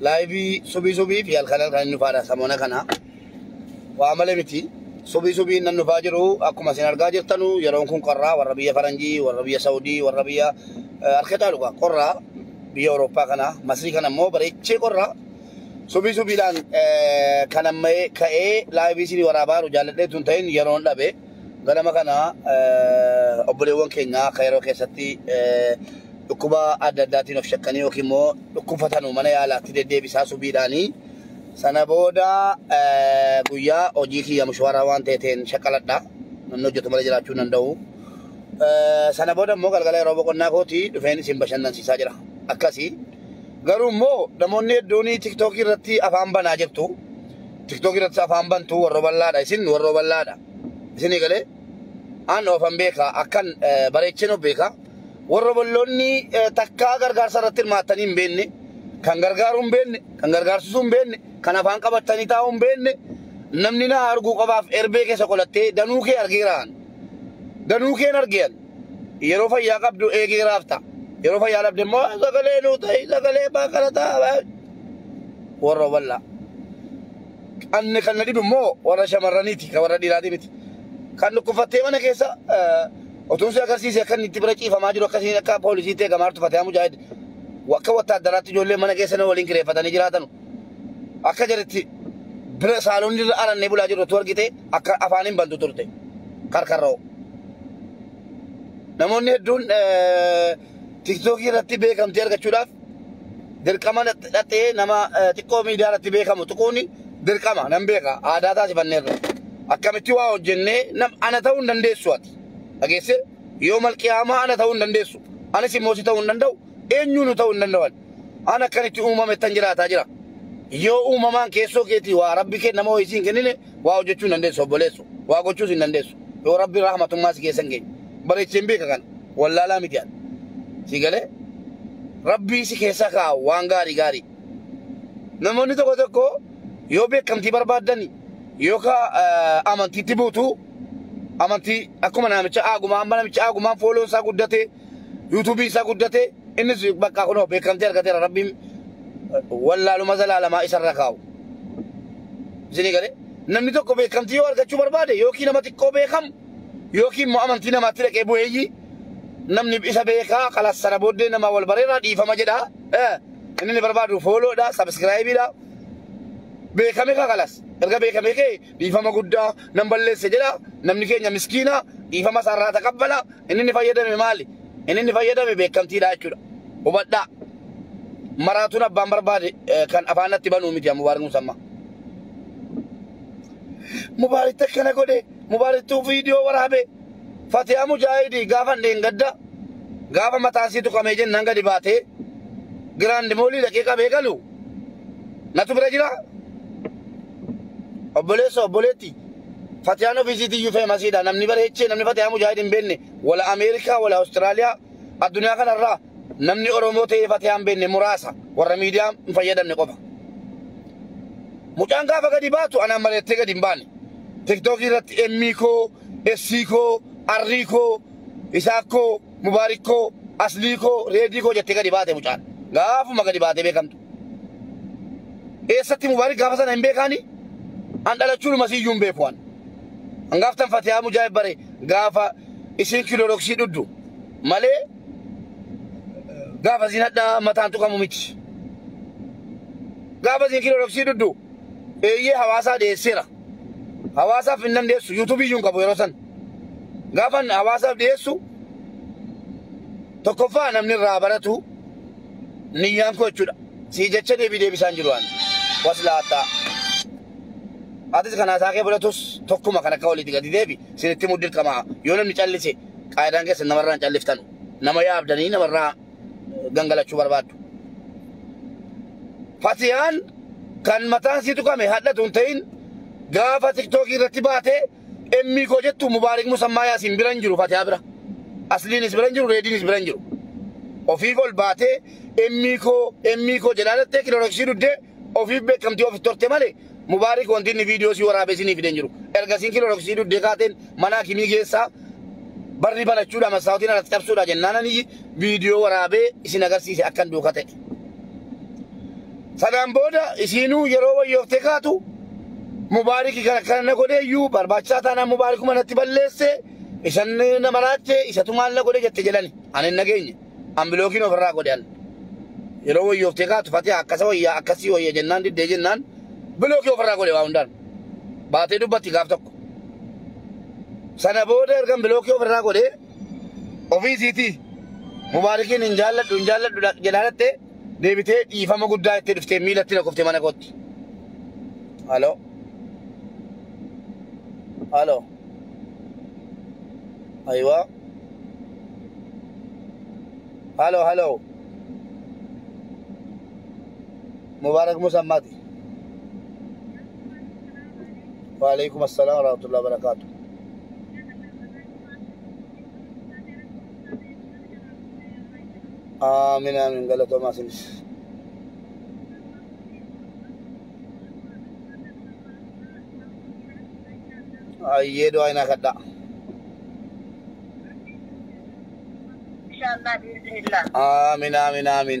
Laayivii subii subii fi halkan halkan hin dhufaadha samoona kana. Waa malee miti. Subii subii nan dhufaa jiru akkuma isin argaa jirtanu yeroon kun qorraa warra biyya Faranjii, warra biyya Saudii, warra biyya eh, harka caalu gaa qorraa biyya Awurooppaa kana Masrii kana immoo bareechee qorraa subii subiidhaan eh, kan amma ka'ee laayivii isinii waraabaa jiru jaalladhee tun ta'in yeroon dhabe. Ganama kana obboleewwan keenya Kayiroo keessatti dhukkuba adda addaatiin of shakkanii yookiin immoo dhukkubfatanu mana yaalaatti deddeebisaa subiidhaanii sana booda guyyaa hojii kiyya mushwaaraa waan ta'eeteen shaqaladha. Namni hojjetu malee jiraachuu hin danda'u. Sana booda immoo galgala yeroo boqonnaa kooti dhufeen isin bashannansiisaa jira. Akkasii garuu immoo namoonni hedduun tiktookii irratti afaan banaa jirtu. tiktok irratti afaan bantu warro ballaadha isin warro ballaadha isinii galee an ofan beeka akkan eh, bareechin of beeka warro balloonni eh, takkaa gargaarsa irratti hirmaattanii hin beenne kan gargaaruu hin beenne kan gargaarsisuu hin beenne kan afaan qabattanii taa'uu hin beenne namni na arguu qabaaf erbee keessa qolattee danuu kee argeeraan danuu keen argean yeroo fayyaa qabdu eegeeraaf ta'a yeroo fayyaa dhabde immoo sagalee nuu ta'i sagalee baakala ta'a warra wallaa. Anni kan na dhibu immoo warra shamarraniiti kan warra dhiiraatii miti. Kan dhukkufattee mana keessa otuun si agarsiise akka inni itti bira ciifamaa jiru akkasiin akka poolisiitti eegamaa jirtu Fatiyaa Mujaahid akka wattaaddaraatti ijoollee mana keessa na waliin kireeffatanii jiraatanu. Akka jedhetti bira saaloonni irra arannee bulaa jirru otuu argite akka afaan hin bantu turte karkarra'u. Namoonni hedduun tiktookii irratti beekamtii argachuudhaaf dirqama dhaxxee nama xiqqoo miidiyaa irratti beekamu tuquun dirqama nan beeka aadaa taasifanneerra. Akkamitti waa hojjennee nam ana ta'uu hin dandeessu ati. Dhageesse yoo malqiyaamaa ana ta'uu hin dandeessu. Anis immoo si ta'uu hin danda'u eenyuunu ta'uu hin danda'u ani. an akkan itti uumamettan jiraataa jira. Yoo uumamaan keessoo keetii waa rabbi kee nama ho'isii hin kennine waa hojjechuu hin dandeessu obboleessu. Waa gochuus hin dandeessu. Yoo rabbi rahmatummaa si keessan geenye. Bareecheen beeka kana. Wallaalaa miti ani. Si galee? Rabbii si keessa kaa'a waan gaarii gaarii. Namoonni tokko tokko yoo beekamtii barbaaddani yookaan amantiitti buutu amantii akkuma namicha aagumaa amma namicha aagumaan fooloon isaa guddatee yuutuubii isaa guddate innis bakka kunoo beekamtee argateera rabbiin wallaaluma zalaalamaa isarra kaa'u. Isinii galee namni tokko beekamtii yoo argachuu barbaade yookiin nama xiqqoo beekamu yookiin immoo amantii namaatti dhaqee bu'eeyyii namni isa beekaa kalas sana booddee nama wal bareeraa dhiifama jedha. Eh, Inni ni barbaadu fooloodha, sabiskiraayibiidha. Beekame kaa kalas. Erga beekame kee dhiifama guddaa nan balleesse jedha namni keenya miskiina dhiifama isaarraa taqabbala inni inni fayyadame maali inni inni fayyadame beekamtiidha jechuudha hubadhaa maraatuun abbaan barbaade kan afaanatti banuu miti mubaarik musamma mubaarik takkana godhe mubaariktuu viidiyoo waraabe fatiyaa mujaahidii gaafan dheengadda gaafa mataasii tuqamee jennaan gadi baatee giraandi moolii dhaqee qabee galu natu bira jira Obboleessa obboleetti Fatiyaan ofiisiitii iyyuu feemasiidha. Namni bara hechee namni Fatiyaa Mujaahid hin beenne wala Ameerikaa wala Awustiraaliyaa addunyaa kanarraa namni Oromoo ta'ee Fatiyaa hin beenne muraasa warra miidiyaa hin fayyadamne qofa. Mucaan gaafa gadi baatu anaan mari'attee gadi hin baane. Tiktookii irratti emmii koo, essii koo, arrii koo, isaak koo, mubaarik koo, aslii koo, reedii koo jettee gadi baate mucaan. Gaafuma gadi baatee beekamtu. Eessatti Mubaarik gaafa sana hin beekaani? An dhalachuudhuma siyyuu hin beeku an. An gaaftan Fatiyaa Mujaahid bare gaafa isiin kiloroksii dhuddu malee gaafa isiin hadhaa mataan tuqamu miti. Gaafa isiin kiloroksii dhuddu eeyyee hawaasaa dhiyeesseera. Hawaasaaf hin dandeessu yuutuubii iyyuu hin qabu yeroo san. Gaafan hawaasaaf dhiyeessu tokkoffaa namni irraa baratu niyyaan koo jechuudha sii jecha deebii deebisaan jiru waan waslaataa atis kan haasaa kee fudhatus tokkuma kan akka walitti gadi deebi sinitti muddi dirqamaa yoo namni callise qaayidaan keessa namarraa hin calliftanu nama yaabdanii namarraa gangalachuu barbaaddu fatiyaan kan mataan sii tuqame hadhatu hin ta'in gaafa tiktookii irratti baatee Emmii koo jettu Mubaarik Musammaa Yaasiin bira hin jiru Fatiyaa bira. Asliinis bira hin jiru Reediinis bira hin jiru. Ofiif ol baatee emmii koo emmii koo jedhaa dhattee kiloroksii duddee ofiif beekamtii ofitti horte malee Mubaarik wanti inni viidiyoo si waraabee sinii fidee hin jiru. Ergasiin kiloroksii duddee kaateen mana hakimii geessaa barri banachuudha massaawotiin alatti cabsuudha jennaananii viidiyoo waraabee isin agarsiise akkan duuka ta'e. Sanaan booda isiinuu yeroo wayyooftee kaatu mubaariki kan akkana na godhe iyyuu barbaachisaa taanaan mubaarikuma natti balleesse isan na maraache isatu maal na godhe jette jedhani ani hin nageenye an bilookiin ofirraa godhe an yeroo wayyooftee kaatu fatee akkasa wayyaa akkasii wayya jennaan diddee jennaan bilookii ofirraa godhe waa hundaan baatee dubbatti gaaf tokko sana booda ergan bilookii ofirraa godhee Ofii isiitii Mubaarikiin hin jaalladhu hin jaalladhu dha- jedhaa dhatte deebitee dhiifama guddaa jettee dhuftee miilatti na kufte mana kootti. Halo. Halo. Ayiwaa. Halo halo. Mubaarak Musa Mati. Waalaikum assalam warahmatullahi wabarakatuh. Aamin aamin galatoomaa isinis. Ayyee du'aa inaa kadhaa. Inshallah biiznillah. Aamin aamin aamin.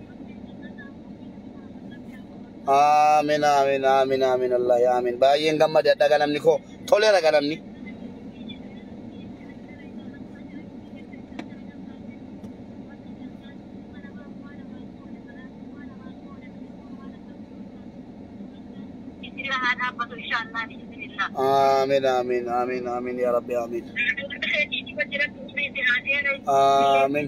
Aamin aamin aamin aamin Allah yaa aamin baay'een gammade adda ganamni koo toleera ganamni. Aamin aamin aamin aamin yaa rabbi aamin. Aamin.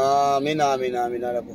Aamin aamin aamin alaku.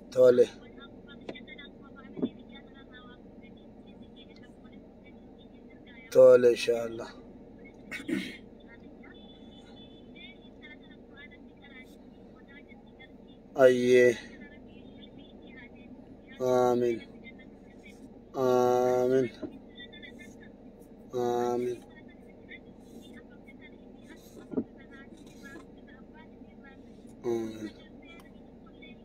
Tole. Tole inshallah. Ayyee. Aamin. Aamin. Aamin. Aamin.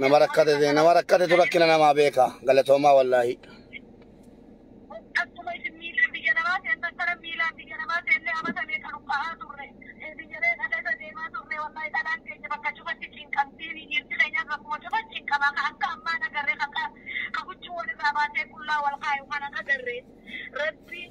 Nama rakkate ta'e nama rakkatetu rakkina namaa beeka galatoomaa wallaahi. Rabbi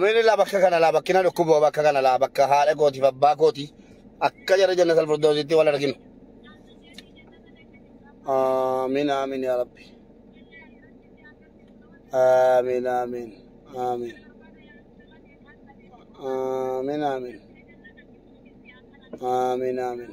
Mini laa bakka kana laa bakkina dhukkuboo bakka kana laa bakka haadha kootiif abbaa kooti akka jara janna salfurdoositti wal arginu. Amiin amiin yaa rabbi. Amiin amiin amiin. Amiin amiin. Amiin amiin.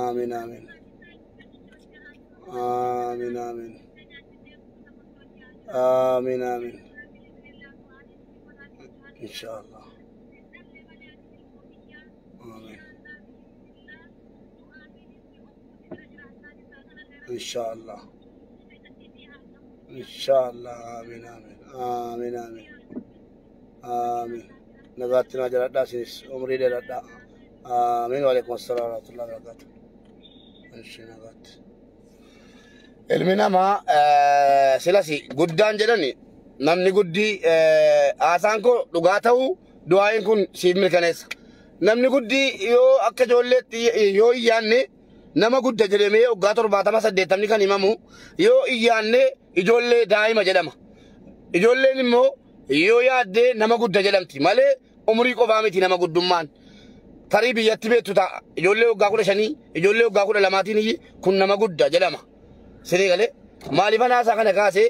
Aamin aamin. Aamin aamin. Aamin aamin. Inshaallah. Aamin. inshaallah inshaallah amiin amiin amiin amiin amiin nagaatti naa jiradhaa isinis umrii dheeradhaa amiin waalaikum assalam warahmatullahi wabarakatuh ishi nagaatti ilmi namaa eh, silasi guddaan jedhani namni guddii eh, haasaan koo dhugaa ta'uu du'aayin kun siif mirkaneessa Namni guddi yoo akka ijoolleetti yoo hin yaanne nama gudda jedhamee waggaa torbaatama saddeettamni kan himamu yoo hin yaanne ijoollee daa'ima jedhama. Ijoolleen immoo yoo yaaddee nama gudda jedhamti malee umurii qofaa miti nama guddummaan. Tarii biyyatti beektu ta'a ijoollee waggaa kudha shanii ijoollee waggaa kudha lamaatiin kun nama gudda jedhama. Sirii galee maaliifan haasaa kana kaase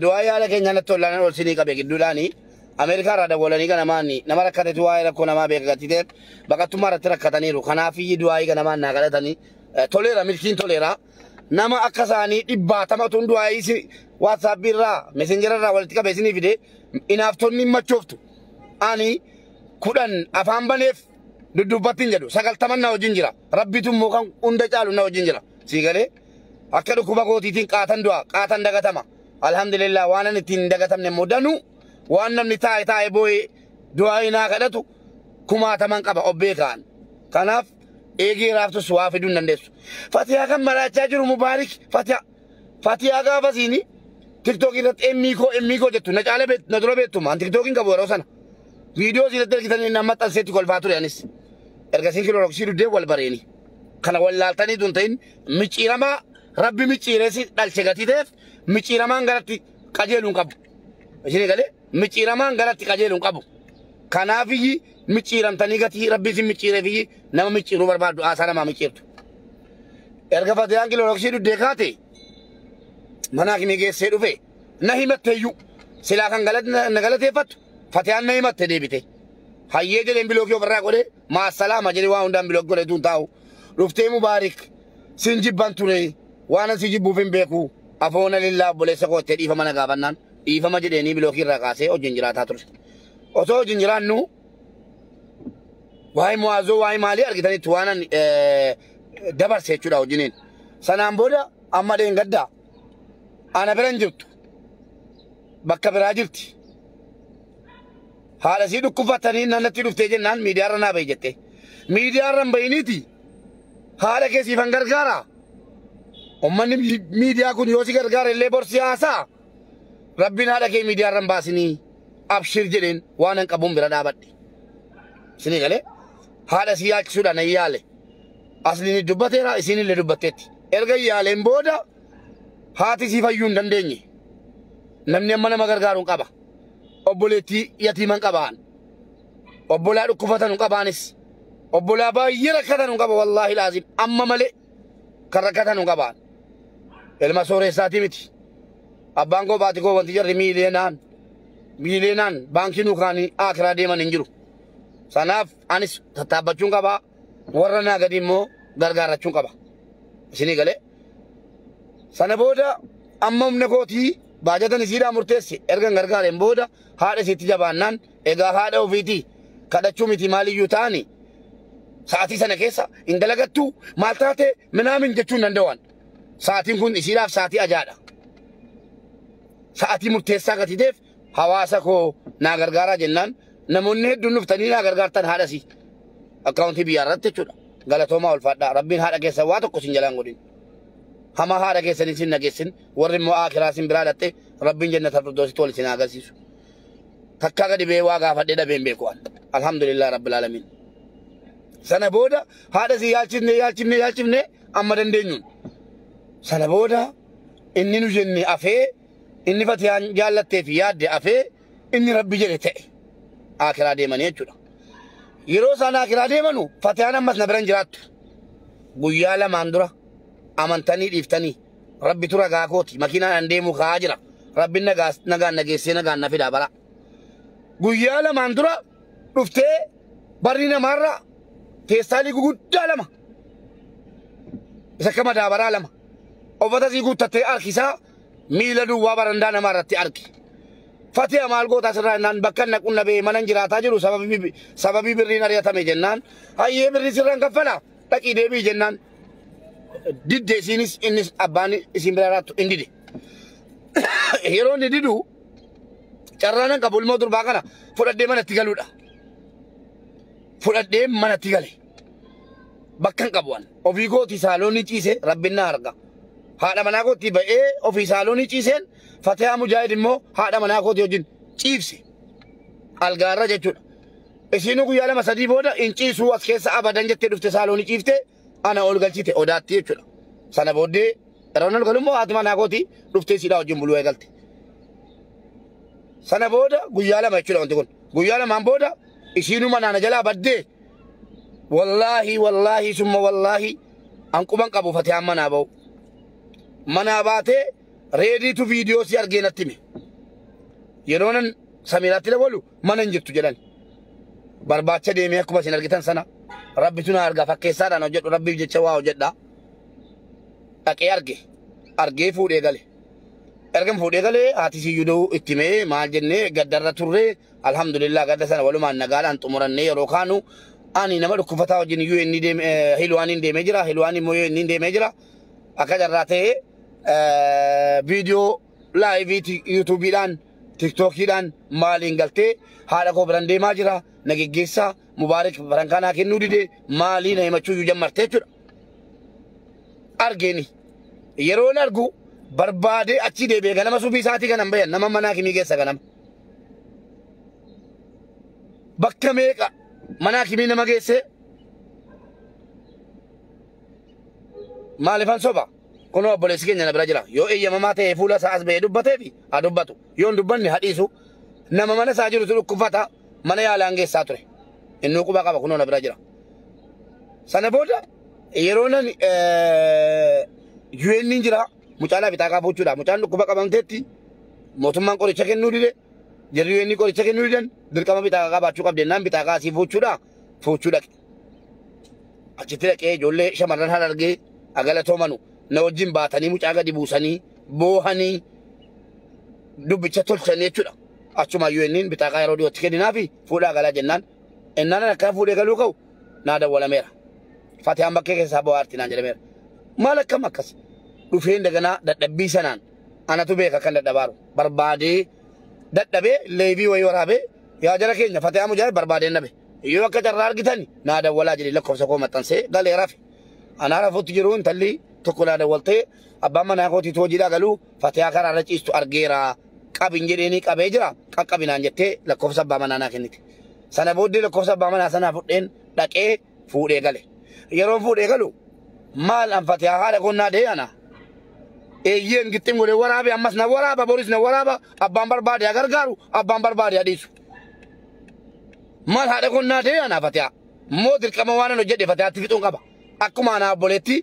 du'aa yaala keenyaa natti ol'aanan ol sinii qabe gidduudhaani Ameerikaa irraa dawwalanii ganamaanni nama rakkatetu waa'ee rakkoo namaa beeka gattiteen baqattummaa irratti rakkataniiru kanaafiyyi du'aayii ganamaan naa kadhatanii toleera milkiin toleera nama akka isaanii dhibbaatamatuun du'aayii si waatsaapbii irraa mesenjera irraa walitti qabe isinii fide inaaftonni machooftu ani kudhan afaan baneef dudduubbattiin jedhu sagaltaman na wajjin jira. Rabbitu immoo kan hunda caalu na wajjin jira. Sii galee akka dhukkuba kootiitiin qaatan du'a qaatan dagatama. Alhamdulillah waanan ittiin hin dagatamne immoo danuu waan namni taa'e taa'e boo'ee du'aa hinaa kadhatu kumaataman qaba of beekaan. Kanaaf eegee raaftus waa fiduu hin dandeessu. Fatiyaa kan maraachaa jiru mubaarik fatiyaa fatiyaa gaafa siini tiktookii irratti emmii koo emmii koo jettu na caala beektu na dura beektu maan tiktookiin qabu yeroo sana. Viidiyoo isin irratti argitan inni amma xanseetti kolfaa ture anis. Erga isin kiloroksii duddee wal bareeni. Kana wal laaltanii tun ta'in micciiramaa rabbi micciireessi dhalche gatii ta'eef micciiramaan garatti qajeeluun qabu. Isin galee micciiramaan garatti qajeeluun qabu. Kanaafiyyi micciiramtanii gatii rabbi isin micciireefiyyi nama micciiruu barbaaddu haasaa namaa micciirtu. Erga fatiyaan kiloroksii duddee kaate mana akimii geessee dhufe na himatteeyyuu silaa kan galate- na galateeffattu Fatiyaan na himatte deebite. Hayyee jedheen bilookii ofirraa godhe maasalaama jedhe waan hundaan bilookii godhe tuun taa'u. Dhuftee mubaarik sin jibban ture waanan si jibbuuf hin beeku afoona lillaa obboleessa koottee dhiifama na gaafannaan dhiifama jedheenii bilookii irraa kaasee hojiin jiraataa ture. Osoo hojiin jiraannu waa'ee mu'aazoo waa'ee maalii argitanitti waanan dabarse jechuudha hojiiniin. Sanaan booda amma dheengaddaa ana bira hin jirtu. bakka biraa jirti. Haadha isii dhukkufatanii nannatti dhuftee jennaan miidiyaarra naa bahi jettee. Miidiyaarra hin bahiniiti haadha kee siifan gargaara. Ummanni miidiyaa kun yoo si gargaara illee borsi haasaa. Rabbiin haadha kee miidiyaarra hin baasinii abshir jedheen waan hin qabuun bira dhaabadhe. Isinii galee haadha isii yaachisuudhaan hin yaale. Asliin dubbateera isiin illee dubbatteetti. Erga yaaleen booda haati sii fayyuu hin dandeenye namni amma nama gargaaruun qaba obboleettii yatiiman qabaan obbolaa dhukkufatan qabaanis obbolaa baay'ee rakkatan qaba wallaahi laazim amma malee kan rakkatan qabaan ilma sooreessaatii miti abbaan koo baati koo wanti jarri miileenaan miileenaan baankii nuukaanii akiraa deeman hin jiru sanaaf anis tattaabbachuun qabaa warra naa gadii immoo gargaarachuun qaba. Isinii galee. Sana booda amma humna kootii baajatan isiidhaa murteessi ergan gargaareen booda haadha isiitti jabaannaan egaa haadha ofiitii kadhachuu miti maaliyyuu ta'ani sa'aatii sana keessa hin dalagattuu maal taate minaamin jechuu hin danda'an. Sa'aatiin kun isiidhaaf sa'aatii ajaadha. Sa'aatii murteessaa gatiiteef hawaasa koo naa gargaaraa jennaan namoonni hedduun dhuftanii naa gargaartan haadha sii akkaawuntii biyyaa irratti jechuudha. Galatoomaa ulfaadhaa rabbiin haadha keessan waa tokko sin jalaan godhin. Hama haadha keessan isin nageessin warri immoo aakiraa isin biraa dhatte rabbiin jannata firdoositti wal isin haa agarsiisu. Takkaa gadi bee waa gaafadhee dhabeen beeku an. Alhamdulillah rabbil alamin. Sana booda haadha sii yaalchifne yaalchifne yaalchifne amma dandeenyuun. Sana booda inni nu jenne afee Inni fatiyaan jaallattee fi yaadde afee inni rabbi jedhe ta'e aakiraa deemanii jechuudha. Yeroo isaan aakiraa deemanu fatiyaan ammas na biran jiraattu. Guyyaa lamaan dura amantanii dhiiftanii rabbi tura gaa kooti makiinaadhaan deemuu ka'aa jira. Rabbi nagaan nageessee nagaan na fidaa bara. Guyyaa lamaan dura dhuftee barri namaarra feestaalii guguddaa lama isa akka madaabaraa lama uffata sii guuttattee harkisaa miila duwwaa barandaa namaa irratti arge. Fatiha maal gootaa sirraa jennaan bakka na qunna bee manan jiraataa jiru sababii sababii birriin ari'atame jennaan hayyee birrii sirraan kaffala dhaqii deebii jennaan didde isiinis innis abbaan isiin bira jiraattu hin dide. Yeroo inni didu carraanan qabu ilmoo durbaa kana fudhadhee manatti galuudha. Fudhadhee manatti gale. Bakka hin qabu ani. Ofii kooti saaloonii ciise rabbin na arga. Haadha manaa kootti ba'ee ofii saaloonii ciiseen Fatiyaa Mujaahid immoo haadha manaa kooti wajjin ciibse. Algaarra jechuudha. Isiinuu guyyaa lama sadii booda hin ciisuu as keessa abadan jettee dhufte saaloonii ciifte ana ol galchite odaatti jechuudha. Sana booddee ranan galummoo haati manaa kooti dhuftee siidhaa wajjin buluu eegalte. Sana booda guyyaa lama jechuudha wanti kun. Guyyaa lamaan booda isiinuu manaa na jalaa baddee Wallaahi wallaahi summa wallaahi an quban qabu fatiyaan manaa ba'u. Manaa baatee reediitu viidiyoo si argee natti hime. Yeroo nan samiiraatti dabalu mana hin jirtu jedhan. Barbaacha deemee akkuma isin argitan sana rabbitu na arga fakkeessaadhaan hojjedhu rabbiif jecha waa hojjedha. Dhaqee arge argee fuudhee gale. Ergan fuudhee galee haati siyyuu da'uu itti himee maal jennee gaddarra turree Alhamdulillah gadda sana walumaan nagaadhaan xumurannee yeroo kaanu ani nama dhukkufataa wajjin iyyuu inni deeme hilwaaniin deemee jira hilwaan immoo yoo inni deemee jira akka carraa ta'ee viidiyoo laayivii yuutuubiidhaan tiktookiidhaan maaliin galtee haadha koo biran deemaa jira na geggeessaa mubaarik baran kanaa kennuu didee maalii na himachuu iyyuu jammartee jechuudha. Argeeni yeroon argu barbaadee achi deebi'ee ganama subii isaatii kanan bayan nama manaa kimii keessa ganama. bakka meeqa mana hakimii nama geessee maalifan soba kunoo obboleessi keenya na bira jira yoo eeyyamamaa ta'e fuula isaa as ba'ee dubbatee fi haa dubbatu yoo hin dubbanne haa dhiisu nama mana isaa jirutu dhukkubfata mana yaalaan geessaa ture innuu quba qaba kunoo na bira jira sana booda yeroo nan eh, UN jira Mucaa laa fixaa kaafuu jechuudha. Mucaan dhukkuba qabamteetti mootummaan qoricha kennuu dide jarri yoo inni qoricha kennuu didan dirqama bixaaqa qabaachuu qabdi jennaan bixaaqa asii fuuchuudha fuuchuu dhaqe. Achitti dhaqee ijoollee shamarran harargee agalatoomanu na wajjin baatanii mucaa gadi buusanii boohanii dubbicha tolchanii jechuudha. Achumaan yoo inni bixaaqa yeroo dhiyootti kenninaafi fuudhaa galaa jennaan ennaan akkaa fuudhee galuu ka'u naa dawwalameera. Fatiyaan bakkee keessaa bohaarti naan jedhameera. Maal akkam akkas dhufeen daganaa dadhabbii sanaan anatu beeka kan dadhabaaru barbaadee dadhabee leebii wayii waraabee yaa jara keenya Fatiyaa Mujaahid barbaadeen dhabe. Yoo akka carraa argitan naa dawwalaa jedhee lakkoofsa koo maxxansee galee rafe. Anaa rafuutti jiru intalli tokko naa dawwaltee abbaan manaa kootiitu hojiidhaa galuu Fatiyaa karaa irra ciistu argeera. Qabi hin jedheenii qabee jira. Qaqqabi naan jettee lakkoofsa abbaa manaa naa kennite. Sana booddee lakkoofsa abbaa manaa sanaa fudheen dhaqee fuudhee gale. Yeroon fuudhee galu maal an Fatiyaa haadha koo naa dee ana. Eeyyeen gixxin godhee waraabe ammas na waraaba boris na waraaba abbaan barbaade haa gargaaru abbaan barbaade haa dhiisu. Maal haadha koo naa dee ana Fatiyaa. Moo dirqama waan an hojjedhe Fatiyaatti fixuun qaba. Akkuma anaa obboleetti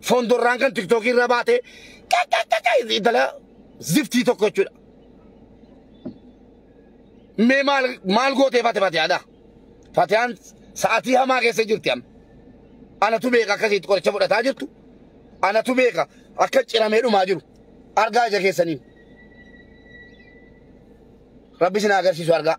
fondorraan kan tiktookii irra baate kakakaka intala ziftii tokko jechuudha. Mee maal maal gootee fate fatiyaadha? Fatiyaan sa'atii hamaa keessa jirti amma. Anatu beeka akkasitti qoricha fudhataa jirtu. Anatu beeka akka ciramee dhumaa jiru. Argaa ija keessaniin. Rabbi isin haa agarsiisu argaa.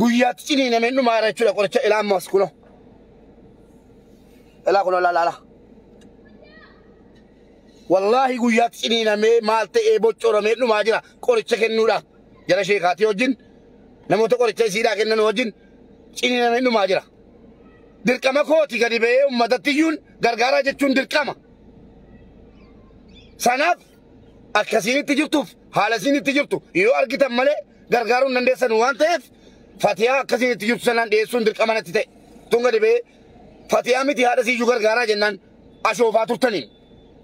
guyyaatti ciniinameen dhumaara jechuudha qoricha ilaa ammas kuno ilaa kuno laa laa wallaahi guyyaatti ciniinamee maal ta'ee boccoramee dhumaa jira qoricha kennuudha jara sheekaatii wajjin namoota qoricha isiidhaa kennan wajjin ciniinamee dhumaa jira dirqama kooti gadi ba'ee uummatatti iyyuun gargaaraa jechuun dirqama sanaaf akka isiin itti jirtuuf haala isiin itti jirtu yoo argitan malee gargaaruu hin dandeessan waan ta'eef fatiyaa akka isiin itti jirtu sanaan dhiyeessuun dirqama natti ta'e tun gadi ba'ee fatiyaa miti haadha isiiyyuu gargaaraa jennaan ashoofaa turtaniin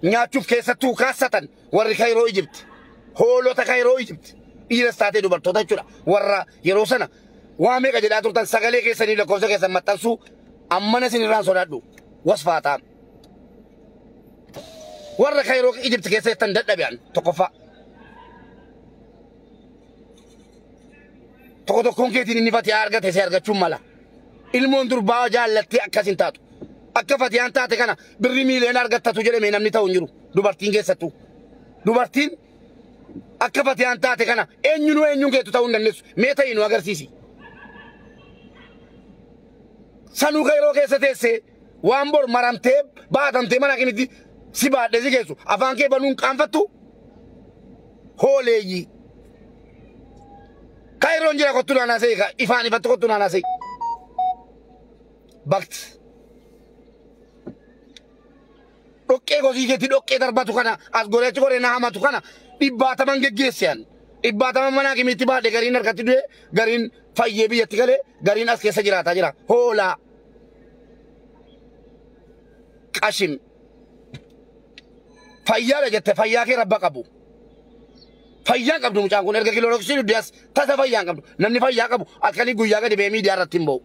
nyaachuuf keessattuu kaassatan warri kayroo ijibti hoolota kayroo ijibti dhiiras taatee dubartoota jechuudha warra yeroo sana waa meeqa jedhaa turtan sagalee keessanii lakkoofsa keessan maxxansuu ammana isin irraan sodaadhu wasfaataa Warra Kaayiroo Ijipti keessa jettan dadhabe an tokkoffaa. Tokko tokkoon keetiin inni fatiyaa argate si argachuun mala. Ilmoon durbaa jaallattee akkas hin taatu. Akka fatiyaan taate kana birri miiliyoona argattatu jedhame namni ta'u hin jiru. Dubartiin keessattuu. Dubartiin akka fatiyaan taate kana eenyunuu eenyuun keetu ta'uu hin dandeessu. Mee ta'ii nu agarsiisi. Sanuu Kaayiroo keessa teessee Waan bor maramtee baatamtee mana kimitti si baadhee si geessu afaan kee banuun qaanfattu hooleeyyii. Kairon jira kottu naanaa se'i ka ifaan ifatti kottu naanaa se'i. Bakti. Dhoqqee kosii keetti dhoqqee darbatu kana as goree achi goree na hamatu kana dhibbaataman geggeesse ani. Dhibbaataman mana kimitti baadhe gariin harkatti du'e gariin fayyee biyyatti galee gariin as keessa jiraataa jira. Hoolaa. qashin fayyaadha jette fayyaa kee rabba qabu fayyaan qabdu mucaan kun erga kiloroksii dudde as tasa fayyaan qabdu namni fayyaa qabu akkanii guyyaa gadi ba'ee miidiyaa irratti hin ba'u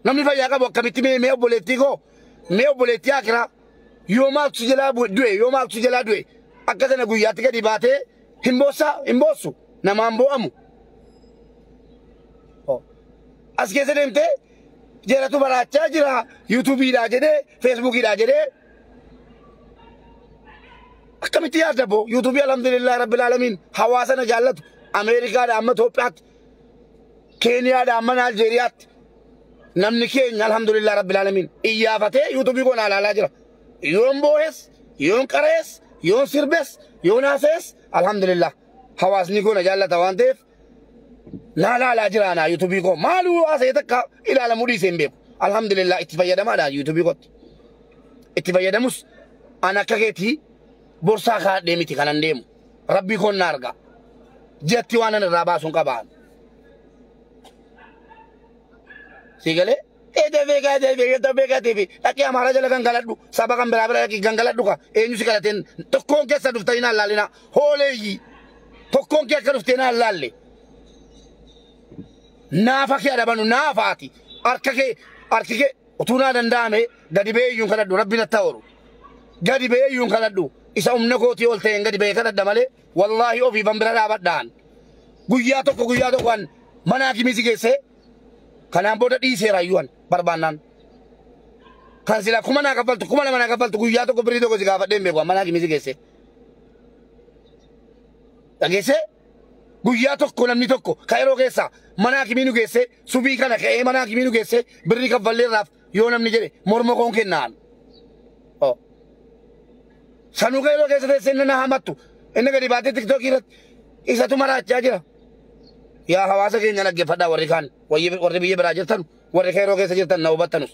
namni fayyaa qabu akkamitti mee mee obboleettii koo mee obboleettii akiraa yoo maaltu jalaa bu- du'e yoo maaltu jalaa du'e akka sana guyyaatti gadi baatee hin boossaa hin boossu namaan boo'amu. As keessa deemtee jaratu baraachaa jira yuutuubiidhaa jedhee feesbuukiidhaa jedhee akkamitti yaadda boo yuutuubii alhamdulillah rabbil aalamiin hawaasa na jaallatu Ameerikaadha amma Itoophiyaatti Keeniyaadha amma Naajeeriyaatti namni keenya alhamdulillah rabbil aalamiin iyyaafatee yuutuubii koo na ilaalaa jira. Yoon boohes, yoon qara'es, yoon sirbes, yoon haasa'es alhamdulillah hawaasni koo na jaallata waan ta'eef naa laalaa jira naa yuutuubii koo maaluu haasa'e takka ilaalamuu dhiisee hin beeku. Alhamdulillah itti fayyadamaadha yuutuubii kootti. Itti fayyadamus an akka keetii borsaa kaadhee miti kanan deemu. Rabbii koon na argaa. Jatti waan an irraa baasuun qabaan. Sii galee? Ede vega ede vega ta vega TV dhaqi amara jala gangaladhu saba kan bira bira dhaqi gangaladhu ka eenyu si kadhateen tokkoon keessa dhufta hin allaalina hooleeyyi tokkoon kee akka dhufte hin allaalle naafa kee adabanu naafaati harka kee harki kee utuu naa danda'ame gadi ba'ee iyyuu hin kadhadhu rabbi na ta'oru gadi ba'ee iyyuu hin kadhadhu isa humna kootii ol ta'een gadi ba'ee kadhadha malee wallaahi ofiifan bira dhaabadhaan guyyaa tokko guyyaa tokkoan mana hakimii si geessee Kanaan booda dhiiseera iyyuu an barbaannaan. Kan sila kuma naa kaffaltu kuma lama naa kaffaltu guyyaa tokko birrii tokko si gaafadhee hin beeku manaa kimisi geessee. Dhageessee guyyaa tokko namni tokko ka'eroo keessaa manaa kimii nu geessee subii kana ka'ee manaa kimii nu geessee birrii kaffalleerraaf Yoo namni jedhe morma koon kennaan. Oh. Sanuu keeloo keessa teessee inni na hamattu. Inni gadi baatee tiktookii irratti isatu maraachaa jira. Yaa hawaasa keenya dhaggeeffadhaa warri kaan wayyi- warri biyya biraa jirtan warri keeroo keessa jirtan na hubattanus.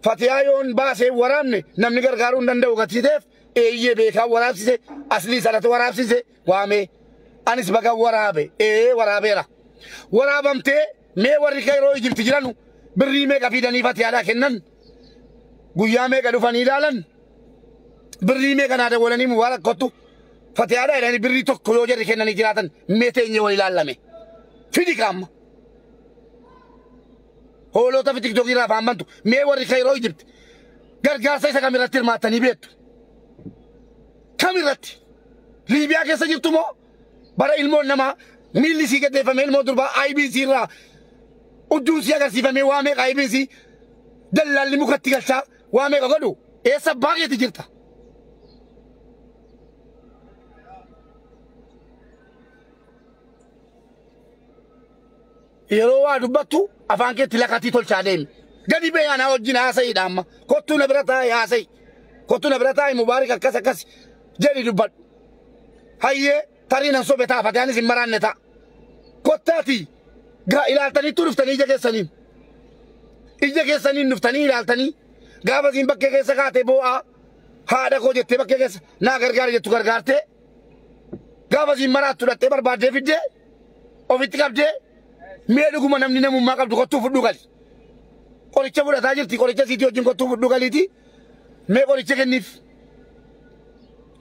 Fatiyaa yoon baasee waraabne namni gargaaruu hin danda'u gatiiteef eeyyee beekaa waraabsise aslii sanatu waraabsise. waamee anis baga waraabe ee waraabeera waraabamtee mee warri kairoo ijibti jiranu birrii meeqa fiidanii fatiyaadhaa kennan guyyaa meeqa dhufanii ilaalan birrii meeqa naa dawwalanii mubaarak kottu fatiyaadhaa jedhanii birrii tokko yoo jarri kennanii jiraatan mee teenyee wal ilaallame fidi kaamma hoolota fi tiktookii irraa afaan bantu mee warri kairoo ijibti gargaarsa isa kamirratti hirmaattanii beektu kam irratti? Liibiyaa keessa jirtu moo bara ilmoon namaa miilli isii gaddeeffame ilmoo durbaa IBC irraa udduun isii agarsiifamee waa meeqa IBC dallaalli mukatti galchaa waa meeqa godhu eessa abbaa keeti jirta? Yeroo waa dubbattu afaan keetti lakatii tolchaa deemi. Gadi ba'e anaa wajjin haasa'iidha amma. Kottuu na bira taa'e haasa'i. Kottuu na bira taa'e mubaarik akkas akkas jedhi dubbadhu. Hayyee tarii nan sobe ta'a fatiyaanis hin maraanne ta'a. Kottaati gaa ilaaltaniittuu dhuftanii ija keessaniin. Ija keessaniin dhuftanii ilaaltanii gaafa isiin bakkee keessa kaatee boo'aa haadha koo jettee bakkee keessa naa gargaara jettu gargaartee Gaafa siin maraattu dhattee barbaaddee fiddee ofitti qabdee mee dhuguma namni namummaa qabdu kottuu fudhuu gali. Qoricha fudhataa jirti qoricha siitii wajjin kottuu fudhuu galiiti mee qoricha kenniif.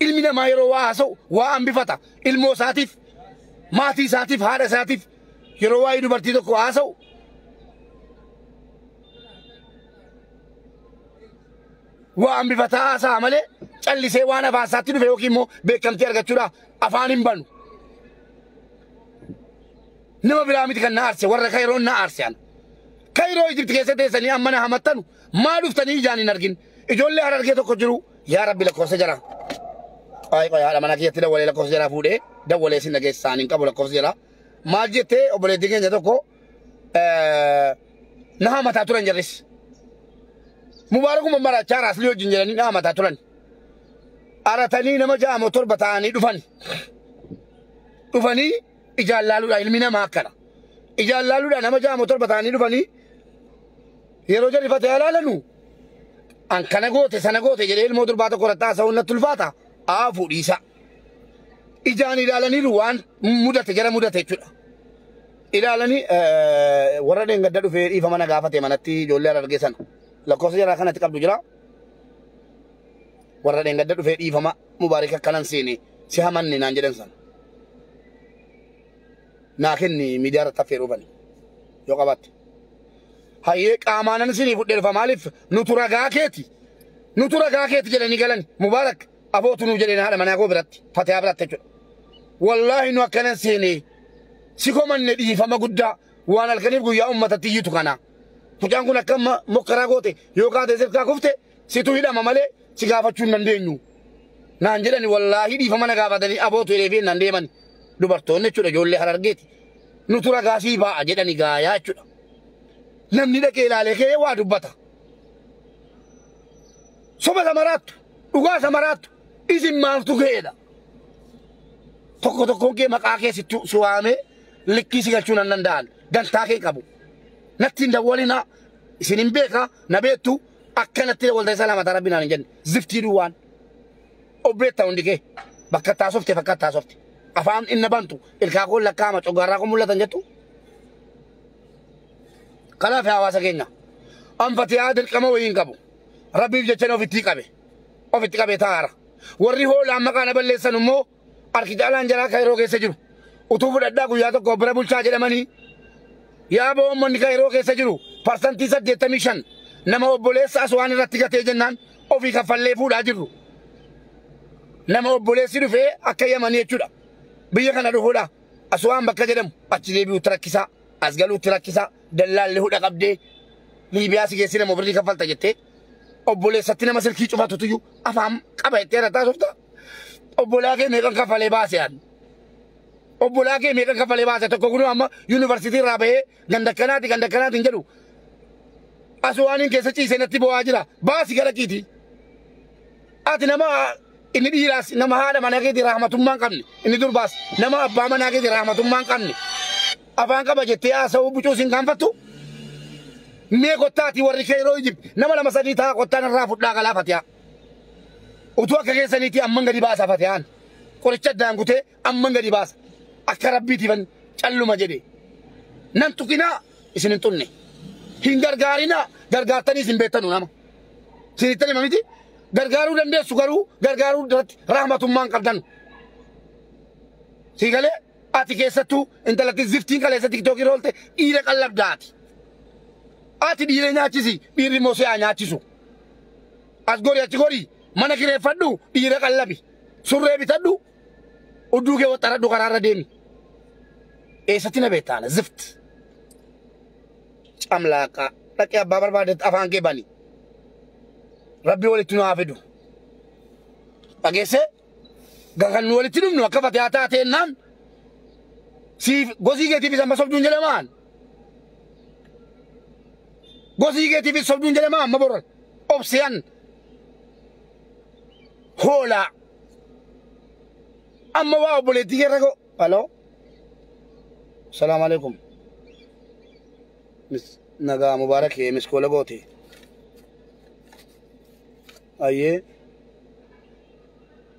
Ilmi namaa yeroo waa haasa'u waa hambifata ilmoo isaatiif maatii isaatiif haadha isaatiif yeroo waa'ee dubartii tokko haasa'u waan bifataa haasa'a malee callisee waan afaan isaatti dhufe yookiin immoo beekamtii argachuudhaaf afaan hin banu. Nama biraa miti kan na aarse warra Kaayiroon na aarse ana. Kaayiroo Ijipti keessa teessanii amma na hamattanu maa dhuftanii ijaan hin argin. Ijoollee harargee tokko jiru yaa rabbi lakkoofsa jara. Qoy qoy haadha mana keessatti dawwalee lakkoofsa jara fuudhee dawwalee sin dhageessisaan hin qabu lakkoofsa jara. maal jettee obboleettiin keenya tokko na hamataa turan jarris. Mubaarakuma marachaa raaslii wajjin jedhanii na hamataa turan. Aratanii nama ja'amoo torba ta'anii dhufan. Dhufanii ijaan laaluudha ilmi namaa akkana. Ijaan laaluudha nama ja'amoo torba ta'anii dhufanii yeroo jarri fatee alaalanu an kana goote sana goote jedhee ilmoo durbaa tokko irratti haasa'uun natti ulfaata. Aa fuudhiisaa. ijaan ilaalaniiru waan mudate jara mudate jechuudha. Ilaalanii warra dheengadda dhufee dhiifama na gaafate manatti ijoollee harargee sana lakkoofsa jaraa kanatti qabdu jira. Warra dheengadda dhufee dhiifama mubaarik akkanan seene si hamanne naan jedhan sana. Naa kenni miidiyaa irratti affeeruu fani yoo qabaatte. Hayyee qaamaanan isinii fudheerfa maaliif nutu ragaa keeti nutu ragaa keeti jedhanii galan mubaarak Abootu nuu jedheen haadha manaa koo biratti fatiyaa biratti jechuudha. Wallaahi nu akkanan seenee si komanne dhiifama guddaa waan halkaniif guyyaa uummatatti iyyitu kana. Mucaan kun akka amma mokkaraa goote yoo kaatee sirkaa kufte situ hidhama malee si gaafachuu hin dandeenyu. Naan jedhani wallaahi dhiifama na gaafatanii abootu hidhee fi naan deemani. Dubartoonni jechuudha ijoollee harargeeti. Nutu ragaa sii baa'a jedhani gaayaa jechuudha. Namni dhaqee ilaalee kee waa dubbata. Soba isa maraattu, dhugaa isa maraattu, isin maaltu ga'eedha? Tokko tokkoon kee maqaa kee sitti si waamee likkii si galchuu nan danda'an. Dantaa kee qabu. Natti hin dawwalinaa. Isin hin beekaa, na beektu. Akka natti dawwaltan isa lamata rabbi naan hin jenne. Ziftii duwwaan. Obbeetta hundi kee. Bakka itti haasofte fakka itti haasofte. Afaan inni bantu ilkaa koo lakkaa'ama coggaarraa koo mul'atan jettu. Kanaaf hawaasa keenya. Anfatiyaa dirqama wayii hin qabu. Rabbiif jechanii ofittii qabe. Ofitti qabe taa'ara. Warri hoolaan maqaa na balleessan immoo harki caalaan jaraa kairoo keessa jiru. Utuu fudhadhaa guyyaa tokko bira bulchaa jedhamanii yaa boommanni kairoo keessa jiru parsantii saddeettamii shan nama obboleessa aswaan irratti gatee jennaan ofii kaffallee fuudhaa jirru. Nama obboleessi dhufee akka yamanii jechuudha. Biyya kana dhufuudha. Aswaan bakka jedhamu achi deebi'uutti rakkisaa. As galuutti rakkisa, dallaalli hudha qabdee Liibiyaa si geessina moo birrii kaffalta jettee obboleessatti nama silkii cufatutuyyuu afaan qaba jettee irratti haasofta. Obbolaa kee meeqan kaffalee baase ani? Obbolaa kee meeqan kaffalee baase tokko kunuu amma yuunivarsiitii irraa bahee ganda akkanaati ganda akkanaati hin jedhu. Asuu waan hin keessa ciise natti bo'aa jira. Baasi gara kiiti. Ati nama Inni dhiiraas nama haadha manaa keetii rahmatummaa hin qabne. Inni durbaas nama abbaa manaa keetii rahmatummaa hin qabne. Afaan qaba jettee haasa'uu bucuus hin gaanfattu. Mee kottaati warri kee yeroo ijib nama lama sadii ta'a kottaan irraa fudhaa galaa fatiyaa. Utuu akka keessaniitii amman gadi baasa fatiyaan. Qoricha addaan kutee amman gadi baasa. Akka rabbiitiifan calluma jedhe. Nan tuqinaa isin hin xunne. Hin gargaarinaa gargaartanii isin beektanu nama. sinittani mamiti gargaaruu dandeessu garuu gargaaruu irratti rahmatummaan qabdan sii galee ati keessattuu intalatti ziftiin kaleessa tiktookii roolte dhiira qallabdaati ati dhiira nyaachisi dhiirri immoo si'aa nyaachisu as gori achi gori mana kireeffadhu dhiira qallabi surree bitadhu Udduu kee waxxaradhu karaarra deemi. Eessatti na beektaana zift. Camlaaqaa dhaqee abbaa barbaadetti afaan kee bani. Rabbi walitti nu haa fidu. Dhageessee kan nu walitti dhumnu akka fatiyaa taatee naan siif gosii keetiifis amma sobduun jedhamaan. Gosii keetiifis sobduun jedhamaa amma borra obseen hoolaa. Amma waa obboleettii kee rakkoo. Haloo. Salaam alaikum. Mis nagaa mubaarak kee miskoola goote. Ayyee.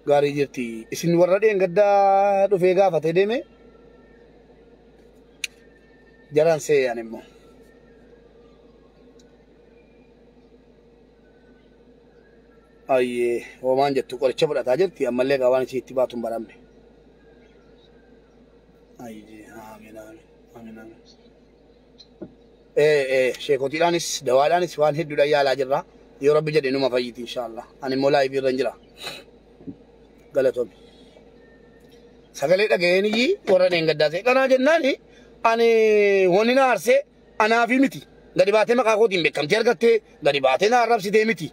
Gaarii jirti. Isin warra dheengaddaa dhufee gaafatee deeme. Jaraan seeyaan immoo. Ayyee hoomaan jettu qoricha fudhataa jirti ammallee gaa waan isii itti baatu hin baramne. Ayyee amiin amiin amiin amiin. Ee ee sheekotiidhaanis dawaadhaanis waan hedduudhaan yaalaa jirra. Yoo rabbi jedhe numa fayyiti inshaallah. Ani immoo laayivii irra hin jira. Galatomi. Sagalee dhaga'een iyyii warra dheengaddaa ta'e kanaa jennaani ani wanni na aarsee Anaafi miti gadi baatee maqaa kootiin beekamtii argattee gadi baatee na arrabsitee miti.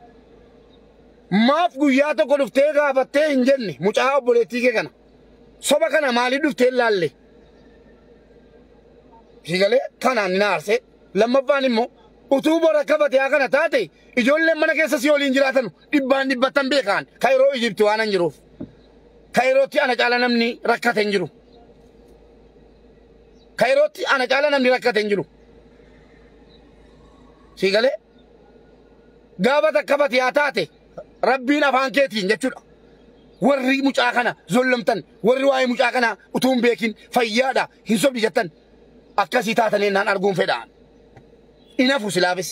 Maaf guyyaa tokko dhuftee gaafattee hin jenne mucaa obboleettii kee kana. Soba kana maaliif dhuftee hin laalle? Sii galee kanaan ni na aarsee. Lammaffaan immoo utuu bor akka fatiyaa kana taate ijoolleen mana keessa si waliin jiraatanu dhibbaan dhibbattan beekaan kayiroo Ijibti waan hin jiruuf. Kayirootti ana caala namni rakkate hin jiru. Kairootti ana caalaa namni rakkate hin jiru. Sii galee? Gaafa takka fatiyaa taate rabbiin afaan keetiin jechuudha. Warri mucaa kana zollamtan, warri waa'ee mucaa kana utuu hin beekin fayyaadha hin sobdi jettan akkasii taatan ennaan arguun fedhaan. Inafu silaafis.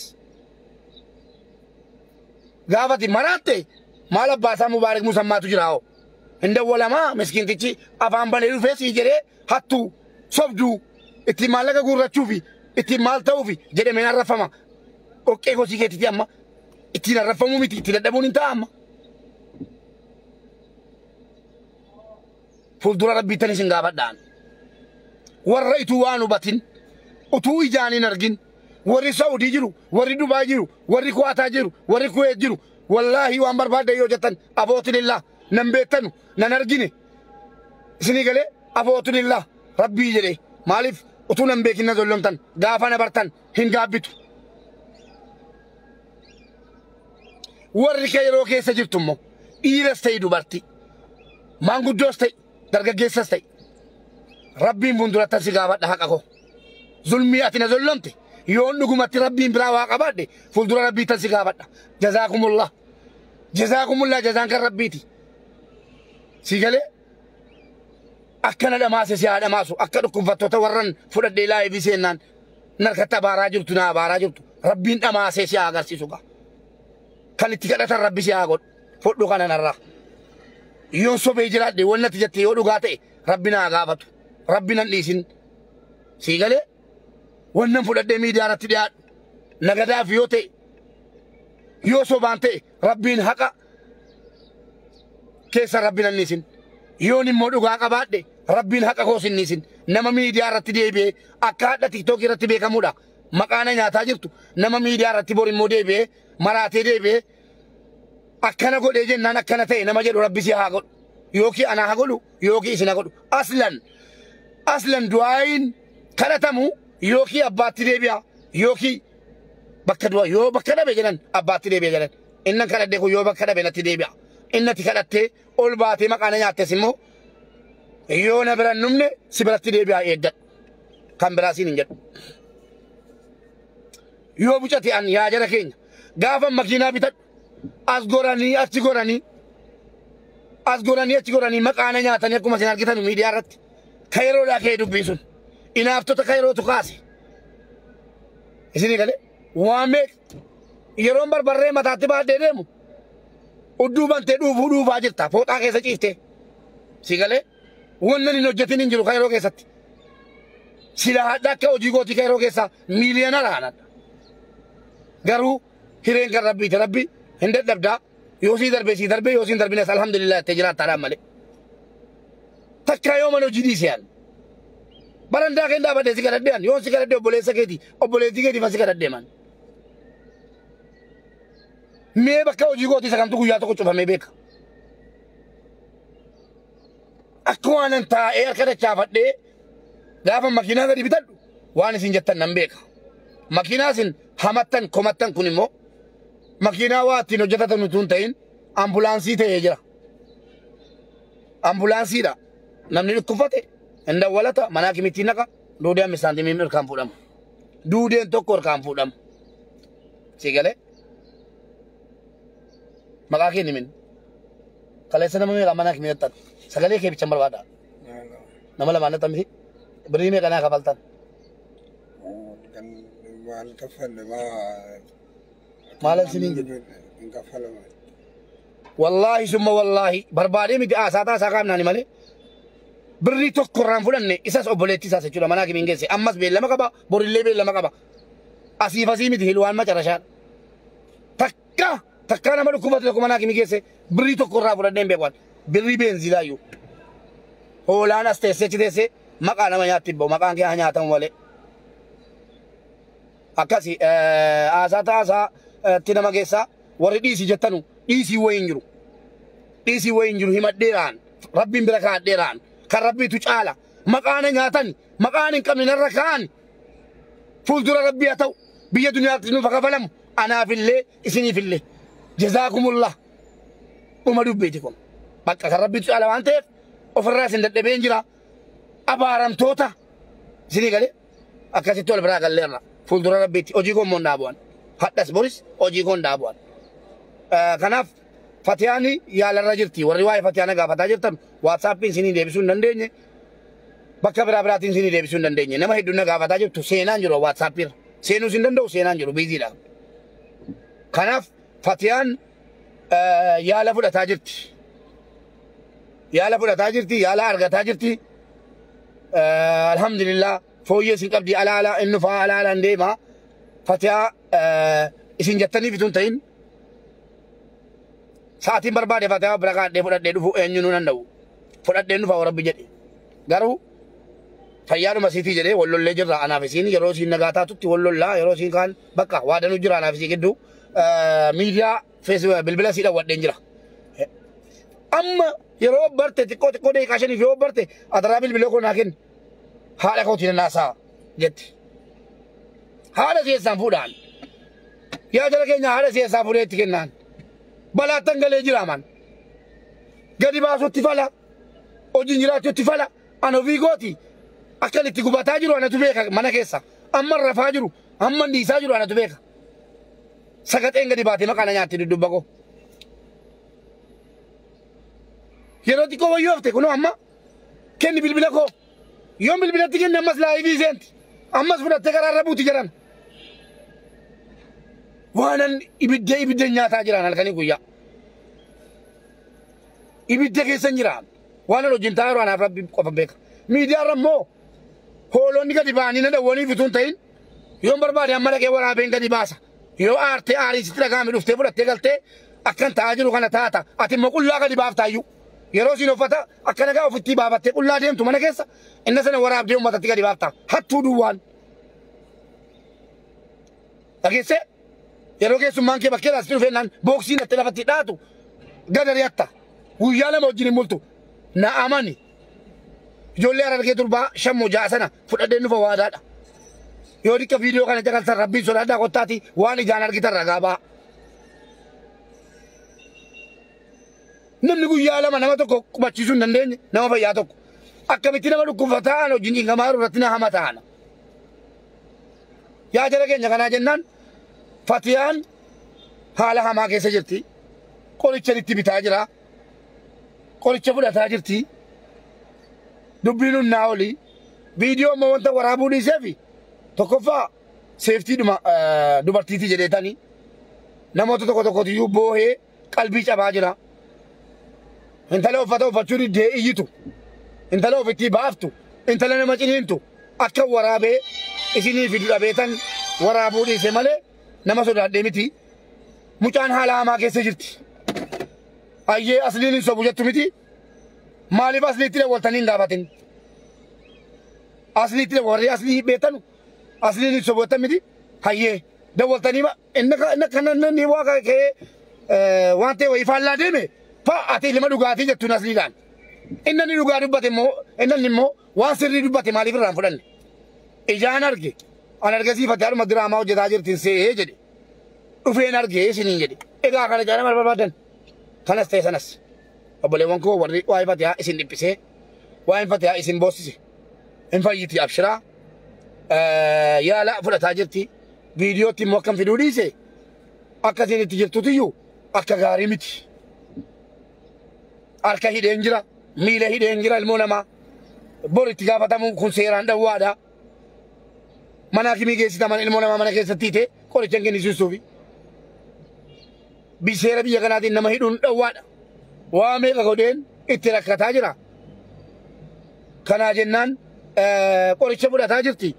Gaafati maraatte maal abbaasaa Mubaarak Musammaatu jira hoo? Hin dawwalamaa miskiintichi afaan banee dhufee sii jedhee hattuu, sobduu, ittiin maallaqa guurrachuu fi ittiin maal ta'uu fi jedhameen arrafama. Dhoqqee kosii keetiiti amma ittiin arrafamuu miti itti dadhabuun hin ta'a amma. Fuuldura rabbiittan isin gaafadhaan. Warra ituu waan hubatin utuu ijaan hin argin warri Saudii jiru, warri Dubaay jiru, warri Kuwaataa jiru, warri Kuweet jiru wallaahi waan barbaaddan yoo jettan abootilillaa nan beettanu nan argine. isinii galee afootun illaa rabbii jedhee maaliif utuu nan beekin na zollomtan gaafa na bartan hin gaabbitu warri kee yeroo keessa jirtu immoo dhiiras ta'e dubartii maanguddoos ta'e dargaggeessas ta'e rabbiin fuuldurattan si gaafadha haqa koo zulmii ati na zollomte yoon dhugumatti rabbiin biraa waa qabaadhe fuuldura rabbiittan si gaafadha jazaakumullah jazaakumullah jazaan kan rabbiiti Sii galee akkana dhamaase si haa dhamaasu akka dhukkubfattoota warran fudhadhee laayivii seennaan narkatti abaaraa jirtu naa abaaraa jirtu rabbiin dhamaasee si haa agarsiisu gaa. Kan itti kadhatan rabbi si haa godhu fudhu kana narraa. Yoon sobee jiraadhe waan natti jette yoo dhugaa ta'e rabbi naa gaafatu rabbi nan dhiisin sii galee waan nan fudhadhee miidiyaa irratti dhiyaadhu nagadaaf yoo ta'e yoo sobaan ta'e rabbiin haqa keessa rabbiin anniisin yoon immoo dhugaa qabaadhe rabbiin haqa koos inniisin nama miidiyaa irratti deebi'ee akka hadha tiktookii irratti beekamuudha maqaana nyaataa jirtu nama miidiyaa irratti bor immoo deebi'ee maraatee deebi'ee akkana godhee jennaan akkana ta'e nama jedhu rabbi si haa godhu yookiin anaa haa godhu yookiin isin haa godhu aslan aslan du'aayin kadhatamu yookiin abbaatti deebi'a yookiin bakka du'a yoo bakka dhabe jedhan abbaatti deebi'a jedhan Innan kadhadhe kun yoo bakka dhabe natti deebi'a. Inni ati kadhattee ol baatee maqaa na nyaattes immoo yoo na bira hin dhumne si biratti deebi'aa eeggadhu. Kan biraa siin hin jedhu. Yoo bucate an yaa jara keenya gaafa makiinaa bitadhu as goranii achi goranii as goranii achi goranii maqaa na nyaatanii akkuma isin argitan miidiyaa irratti ka yeroodhaa ka'ee dubbiin sun inaaftota ka yerootu kaase isinii galee. Waa meeq yeroon barbarree mataatti baadhee deemu udduu bantee dhuufuu dhuufaa jirta fooxaa keessa ciiftee. Si galee wannan hin hojjetin hin jiru kairoo keessatti. Sila hadha akka hojii gootii kairoo keessaa miiliyoonara hanadha. Garuu hireen kan rabbiiti rabbi hin dadhabdaa. Yoo sii darbee sii darbee yoo siin darbines alhamdulillah jettee jiraattaadhaan malee. Takkaa yoo mana hojii dhiise yaal. Barandaa keen dhaabadhee si kadhadhee an yoon si kadhadhee obboleessa keeti obboleettii keetiif an si kadhadhee man. Mee bakka hojii kooti isa kamtu guyyaa tokko cufamee beeka. Akka waan an taa'ee harka dachaafadhee gaafa makiinaa gadi bitadhu waan isin jettan nan beeka. Makiinaa isin hamattan komattan kun immoo makiinaa waa ittiin hojjetatan utuu hin ta'in ambulaansii ta'ee jira. Ambulaansiidha. Namni dhukkubfate hin dawwalata manaa kimittiin naqa duudee hammi saantimii irkaan fuudhama. Duudeen tokko irkaan fuudhama. Sii galee maqaa kee nimin kaleessa nama meeqa manaa kimii nattan sagalee kee bichan barbaada nama lamaan nattan miti birrii meeqa naa kafaltan. Kan maal kaffalama maalan siniin jedhe hin kaffalamu. wallaahi summa wallaahi barbaadee miti haasaa taasaa kaamnaani malee birrii tokko irraan fudhanne isas obboleettii isaas jechuudha manaa kimiin geesse ammas beellama qaba borillee beellama qaba asiif asii miti hilwaan macarashaadha takka takkaa nama dhukkubate tokko manaa kimii geesse birrii tokko irraa fudhadhee hin beekan birrii beenziilaayyuu hoolaan as teessee achi teessee maqaa nama nyaatti hin ba'u maqaan kee haa nyaatamu malee Akkasi haasaa taasaa itti nama geessaa warri dhiisi jettanu dhiisii wayii hin jiru. Dhiisii wayii hin jiru himadheeraan rabbiin bira kaadheeraan kan rabbiitu caala maqaana nyaatan maqaan hin qabne narra kaa'an fuuldura rabbii haa ta'u biyya duniyaatti nuuf haa kafalamu anaafillee isiniifillee jazaakumullah dhuma dubbiiti kun bakka kan rabbiitu caala waan ta'eef ofirraa isin dadhabeen jira abaaramtoota isinii galee. Akkasitti wal biraa gallee irra fuuldura rabbiitti hojii koo immoo hin dhaabu'an. Hadhas boris hojii koo hin dhaabu'an. Eh, Kanaaf Fatiyaan yaalarra jirti. Warri waa'ee Fatiyaa na gaafataa jirtan waatsaappiin isinii deebisuu hin dandeenye. Bakka biraa biraatiin isinii deebisuu hin dandeenye. Nama hedduun na gaafataa jirtu seenaan jiru waatsaappiirra. Seenuus hin danda'u seenaan jiru biiziidha. Kanaaf Fatiyaan eh, yaala fudhataa jirti. Yaala fudhataa jirti, yaala argataa jirti. Eh, Alhamdulillah fooyyee isin qabdi ala ala inni faa ala ala hin deema. Fatiyaa eh, isin jettaniif itun ta'in sa'aatiin barbaade fatiyaa bira kaadhee fudhadhee dhufu eenyu nu danda'u. Fudhadhee dhufa warabbi jedhe. Garuu fayyaadhuma siitii jedhee wal lollee jirra anaaf isiin yeroo isiin nagaa taatutti wal lollaa yeroo isiin kaan bakka waadanu jira anaaf isii gidduu Eh, miidiyaa Fees bilbila sii dhawwadheen jira. Amma yeroo barte xiqqoo xiqqoo deeqaa shaniif yoo barte adaraa bilbila koo naa kenni. Haadha kootii na naasaa jette. Haadha keessaan fuudhaan. Yaa jala keenya haadha keessaa fuudhee itti kennaan. Balaattan galee jiraaman. Gadi baasuutti fala. Hojiin jiraachuutti fala. An ofii kooti. Akkan itti gubataa jiru anatu beeka mana keessa. Amma rafaa jiru. Amma dhiisaa jiru anatu beeka. Sagaxeen gadi baatee maqaa na nyaatti dudduubba koo. Yeroo xiqqoo wayyoo hafte kunoo amma kenni bilbila koo. Yoon bilbilatti kenne ammas laayivii seenti. Ammas fudhattee karaa irra buuti jedhan. Waanan ibidda ibidda nyaataa jiraan halkanii guyyaa. Ibidda keessan jiraan. Waanan wajjin taa'aa jiru anaaf rabbi qofa beeka. Miidiyaarra immoo hoolonni gadi ba'anii na dawwaniif utuu hin ta'in Yoon barbaade amma dhaqee waraabeen gadi baasa. Yoo aartee aarii sitti dhaga'ame dhuftee fudhattee galtee akkan ta'aa jiru kana taata. Ati immoo qullaa gadi baaftaa iyyuu. Yeroo siin uffata akka nagaa ofittii baafattee qullaa deemtu mana keessa inna sana waraabdee uummatatti gadi baaftaa. Hattuu duwwaan. Dhageessee yeroo keessummaan kee bakkee laastii dhufee naan booksii nattee lafatti dhaatu gadarii hatta. Guyyaa lama wajjin hin bultu. Na amani. Ijoollee harargee durbaa shan moo ja'a sana fudhadheen dhufa waadaadha. Yoo xiqqa viidiyoo kana jakaltan rabbiin sodaadhaa kottaati waan ijaan argitan ragaa ba'a. Namni guyyaa lama nama tokko qubachiisuu hin dandeenye nama fayyaa tokko. Akkamitti nama dhukkubfataa aan hojiin dhiingamaa jiru irratti na hama ta'ana. Yaa jara keenya kanaa jennaan fatiyaan haala hamaa keessa jirti. Qoricha itti bitaa jira. qoricha fudhataa jirti. Dubbiin humnaa oli. Viidiyoo amma wanta waraabuu dhiisee fi tokkoffaa seeftii dhuma eh, dubartiiti jedheetani namoota tokko tokkotu iyyuu boohee qalbii cabaa jira. Intala uffata uffachuu diddee iyyitu. Intala ofittii baaftu. Intala nama ciniintu. Akka waraabee isinii fidu dhabeetan waraabuu dhiise malee nama sodaadhee miti. Mucaan haala hamaa keessa jirti. Ayyee asliin hin sobu jettu miti. Maaliif asliitti dawwaltanii hin gaafatin? Asliitti warri aslii beektanu asliin hin sobu jettan miti. Hayyee dawwaltanii ma inni ka- inni kana inni waa ka- ka'ee eh, waan ta'e wayii faallaa deeme fa ati ilma dhugaatii jettuun asliidhaan. Inni inni dhugaa dubbate immoo inni inni immoo waan sirrii dubbate maaliif irraa hin fudhanne? Ijaan arge an argisiifate harma diraamaa hojjetaa jirti hin see'ee jedhe. dhufeen argee isiniin jedhe. Egaa kana caalaa maal barbaadan? Kanas ta'e sanas. Obboleewwan koo warri waa'ee fatiyaa isin dhiphisee waa'een fatiyaa isin boossise. Hin fayyiti abshiraa. Yaala fudhataa jirti. Viidiyootti immoo akkan fiduu dhiise akka isin itti jirtutiyyuu akka gaarii miti. Harka hidheen jira, miila hidheen jira ilmoo namaa. Bor itti gaafatamu kun seeraan dhawwaadha. mana hakimii geessita mana ilmoo namaa mana keessatti hiite qoricha hin kennisiistuufi. Bi- Seera biyya kanaatiin nama hidhuun dhowwaadha. Waa meeqa godheen itti rakkataa jira. Kanaa jennaan eh, qoricha fudhataa jirti.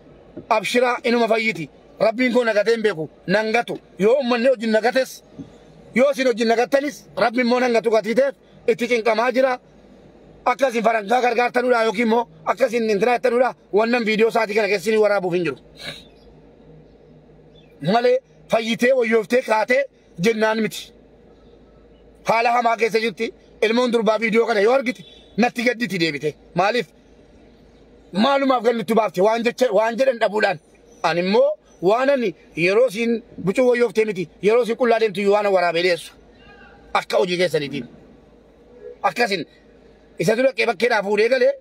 Abshiraa inuma fayyiti. Rabbiin koo nagatee hin beeku. Nan gatu. Yoo uummanni wajjin nagates yoo isin wajjin nagattanis rabbi immoo nan gatu gatiiteef itti cinqamaa jira. Akka isin farankaa gargaartanudha yookiin immoo akka isin intinaa jettanudha wannan viidiyoo isaatii kana keessin waraabuuf hin jiru. Malee fayyitee wayyooftee kaatee jennaan miti. Haala hamaa keessa jirti ilmoon durbaa viidiyoo kana yoo argite natti gadditi deebite. Maaliif? maalumaaf gad nutti baafte waan jecha waan jedhan dhabuudhaan ani immoo waan ani yeroo siin bucuu wayyooftee miti yeroo siin qullaa deemtu waan waraabee dhiyeessu akka hojii keessaniitiin akkasin isa dura qee bakkeedhaa fuudhee galee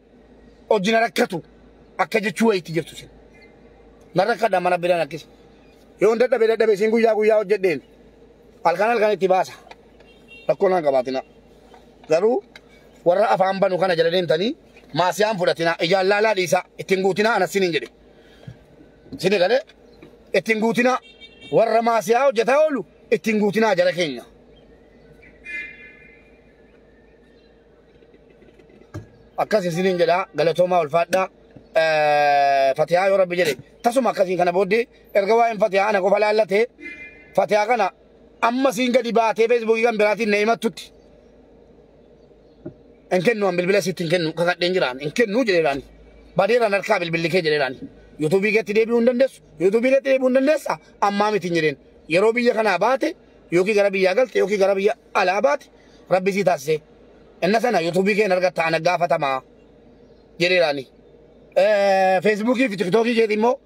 hojii na rakkatu akka jechuu wayiitti jirtu sin na rakkadha mana biraan akkasi yoo hin dadhabe dadhabe siin guyyaa guyyaa hojjedheen halkan halkan itti baasa rakkoo naan qabaatina garuu Warra afaan banu kana jala deemtanii maasiyaan fudhatinaa ijaan laalaa dhiisaa ittiin guutinaa anas siniin jedhe. Sini galee ittiin guutinaa warra maasiyaa hojjetaa oolu ittiin guutinaa jala keenya. akkas isiniin jedha galatoomaa ulfaadhaa fatiyaa yoo rabbi jedhe tasuma akkasiin kana booddee erga waa'een fatiyaa ana qofa laallatee fatiyaa kana Amma siin gadi baatee feesbuukii kan biraatiin na himattutti. Hin kennu an bilbila sitti hin kennu kakadheen jiraan hin kennu jedheeraan. Badeeraan harkaa bilbilli kee jedheeraan. Yuutuubii keetti deebi'uu hin dandeessu. Yuutuubii keetti deebi'uu hin dandeessa ammaa miti hin jedheen. Yeroo biyya kanaa baate yookiin gara biyyaa galte yookiin gara biyya alaa baate rabbi sii taasisee. Inna sana yuutuubii keen argatta ana gaafatamaa jedheeraani. Feesbuukii fi tiktookii keetii immoo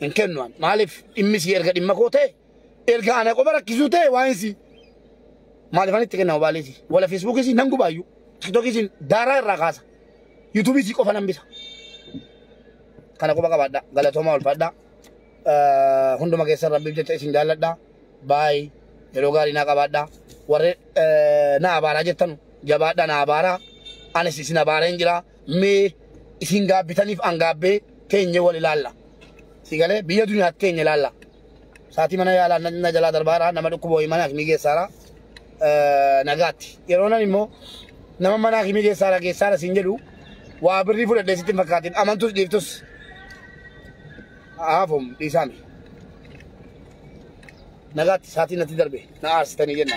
hin kennu an maaliif dhimmi sii erga dhimma koo ta'e erga ana qofa rakkisuu ta'e waan sii maaliif an itti kennama baaleeti wala feesbuukii siin nan gubaayyu tiktookii siin daaraa irraa kaasa yuutuubii sii qofa nan bisa kana qofa qabaadha galatoomaa ulfaadha hunduma keessan rabbiif jecha isin jaalladha baay yeroo gaarii naa qabaadha warri na abaaraa jettan jabaadha na abaaraa anis isin abaaraa hin jiraa mee isin gaabbitaniif an gaabbee teenye wal ilaalla si galee biyya duniyaatti teenye ilaalla saatii mana yaalaa na- na jalaa darbaara nama dhukkuba wayii mana akimii geessaara eh, nagaatti yeroo nan immoo nama mana akimii geessaara geessaara siin jedhu waa birrii fudhadhee sitti hin fakkaatin amantus dhiiftus haafum dhiisaami nagaatti saatii natti darbe na aarsitanii jenna